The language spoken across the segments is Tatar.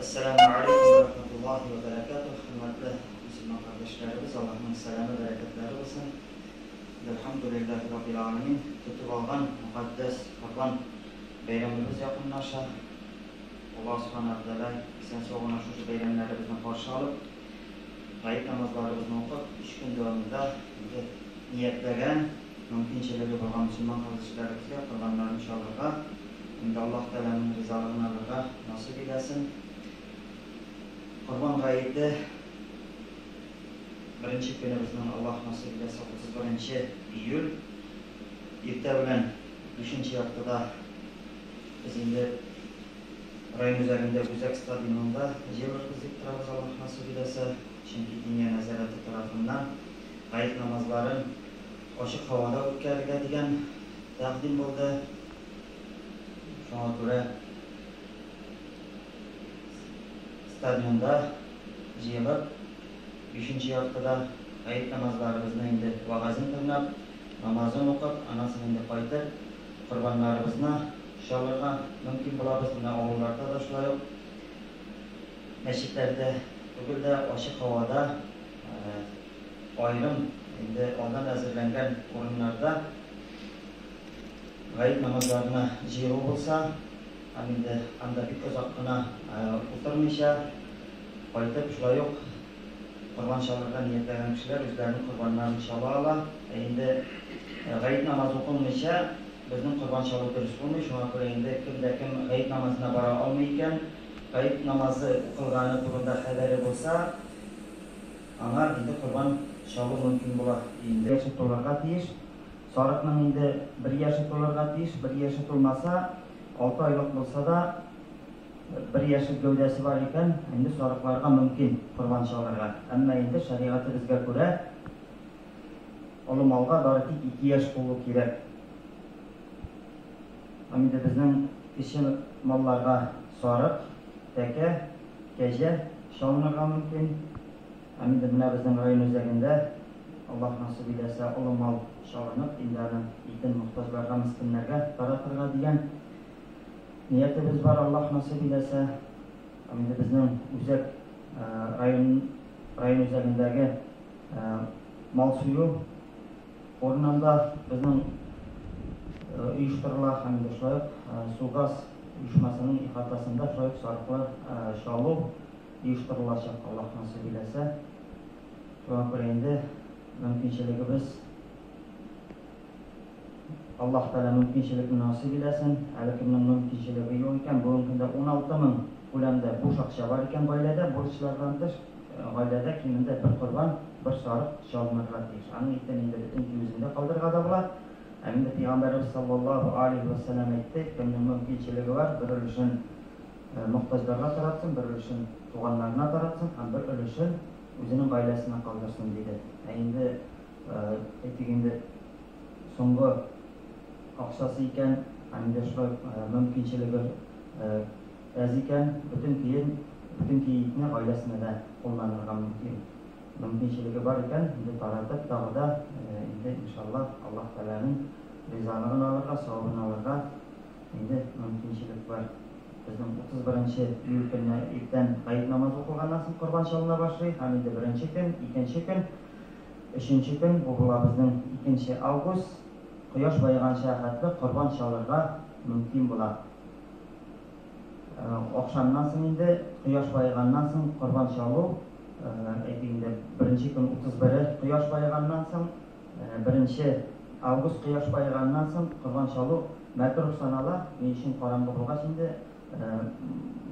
Әссәламү алейкүм вә рахмәтуллаһи вә бәрәкәтүһ, хөрмәтле мөселман кардәшләребез, Аллаһның сәламе, бәрәкәтләре булсын! Әлхәмдүлилләһи раббил галәмин, тотып алган мөкатдәс Корбан бәйрәмебез якынлаша. Аллаһ Субхана вә Тәгалә исән-сау гына шушы бәйрәмнәребезне каршы алып, гает намазларыбызны укып, өч көн дәвамында инде ниятләгән, мөмкинчелеге булган мөселман кыз-җегетләр ихтыяр корбаннарын чалырга, инде Аллаһ Тәгаләнең ризалыгын алырга насыйп итәсен. Корбан гаете беренче көне безнең Аллаһ насыйп итәсе 31 июль. Иртә белән бишенче яртыда без инде район үзәгендә Үзәк стадионында җыелырбыз дип торабыз, Аллаһ насыйп итәсә. Чөнки диния нәзарәте тарафыннан гает намазларын ачык һавада үткәрергә дигән тәкъдим булды. Шуңа күрә стадионда җыелып, бишенче яртыда гает намазларыбызны инде вәгазен тыңлап, намазын укып, аннан соң инде кайтып, корбаннарыбызны чалырга мөмкин булабыз. Менә авылларда да шулай ук. Мәчетләрдә түгел дә, ачык һавада, аерым инде алдан әзерләнгән урыннарда гает намазларына җыелу булса, һәм инде анда бик озак кына утырмыйча, кайтып шулай ук корбан чалырга ниятләгән кешеләр үзләренең корбаннарын чала ала. Ә инде гает намазы укылмыйча, Безнең корбан чалу дөрес булмый, шуңа күрә инде кем дә кем гает намазына бара алмый икән, гает намазы укылганы турында хәбәре булса, аңар инде корбан чалу мөмкин була инде. Яше тулырга тиеш. Сарыкның инде бер яше тулырга тиеш, бер яше тулмаса, алты айлык булса да, бер яшел гәүдәсе бар икән, инде сарыкларга мөмкин корбан чалырга. Әмма инде шәригатебезгә күрә, Олы малга бары тик ике яшь тулу кирәк. Ам инде безнең кече малларга сарык, тәкә, кәҗә чалынырга мөмкин. Ам инде менә безнең район үзәгендә, Аллаһ насыйп иләсә, олы мал чалынып, инде аның итен мохтаҗларга, мескеннәргә таратырга дигән ниятебез бар, Аллаһ насыйп иләсә. Ам инде безнең үзәк район район үзәгендәге. Мал сөю урынында безнең оештырыла һәм дә шулай ук Су-газ оешмасының ихатасында шулай ук сарыклы чалу оештырылачак, Аллаһ насыйп иләсә. Шуңа күрә инде мөмкинчелегебез. Аллаһ Тәгалә мөмкинчелекне насыйп иләсен. Әле кемнең мөмкинчелеге юк икән, бүгенге көндә 16 мең күләмдә буш акча бар икән гаиләдә, бурычлардан тыш, гаиләдә кимендә бер корбан, бер сарык чалынырга тиеш. Аның итен инде бөтен көй үзендә калдырырга да була. Ә инде Пәйгамбәребез саллаллаһу алейһи вә сәлләм әйтте, кемнең мөмкинчелеге бар, бер өлешен мохтаҗларга таратсын, бер өлешен туганнарына таратсын һәм бер өлешен үзенең гаиләсенә калдырсын, диде. Ә инде. Әйтик инде, соңгы акчасы икән, һәм инде шулай мөмкинчелеге әз икән, бөтен кием, бөтен киитне гаиләсенә дә кулланырга мөмкин. Мөмкинчелеге бар икән, инде таратып, тагы да инде иншаллаһ, Аллаһ Тәгаләнең ризалыгын алырга, савабын алырга инде мөмкинчелек бар. Безнең 31 нче июль көнне иртән гает намазы укылганнан соң корбан чалына башлый, һәм инде беренче көн, икенче көн, Өченче көн, бу була безнең икенче август, кояш баеганча хәтле корбан чалырга мөмкин була. Ахшамнан соң инде, кояш баеганнан соң корбан чалу, әйтик инде, беренче көн 31-е кояш баеганнан соң, беренче август кояш баеганнан соң корбан чалу мәкруһ санала. Ни өчен? Караңгы булгач инде,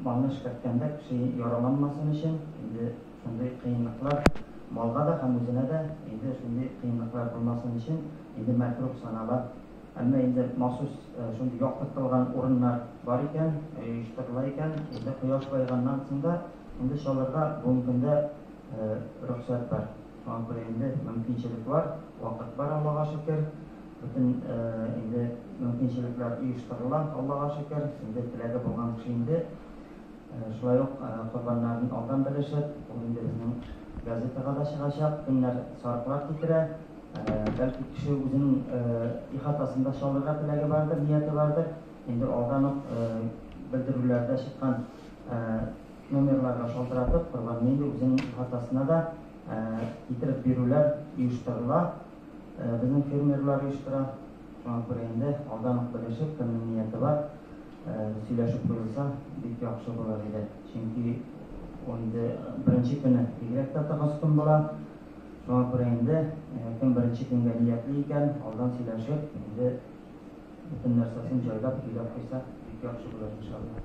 малны эшкәрткәндә кеше яраланмасын өчен, инде. Шундый кыенлыклар малга да һәм үзенә дә инде шундый кыенлыклар булмасын өчен инде мәкруһ санала. Әмма инде махсус шундый яктыртылган урыннар бар икән, оештырыла икән, инде кояш баеганнан соң да инде чалырга бүгенге көндә рөхсәт бар. Шуңа күрә инде мөмкинчелек бар, вакыт бар, Аллага шөкер. Бөтен инде мөмкинчелекләр оештырыла, Аллага шөкер. Инде теләге булган кеше инде Шулай ук корбаннарны алдан белешеп, ул инде безнең газетага да чыгачак, кемнәр сарыклар китерә, бәлки кеше үзенең ихатасын да чалырга теләге бардыр, нияте бардыр, инде алдан ук белдерүләрдә чыккан номерларга шалтыратып, корбанны инде үзенең ихатасына да китереп бирүләр оештырыла, безнең фермерлар оештыра, шуңа күрә инде алдан ук белешеп, кемнең нияте бар. Сөйләшеп куелса, бик яхшы булыр иде. Чөнки инде беренче көне бигрәк тә тыгыз көн була. Шуңа күрә инде кем беренче көнгә ниятли икән, алдан сөйләшеп, инде бөтен нәрсәсен җайлап, көйләп куйса, бик яхшы булыр, иншалла.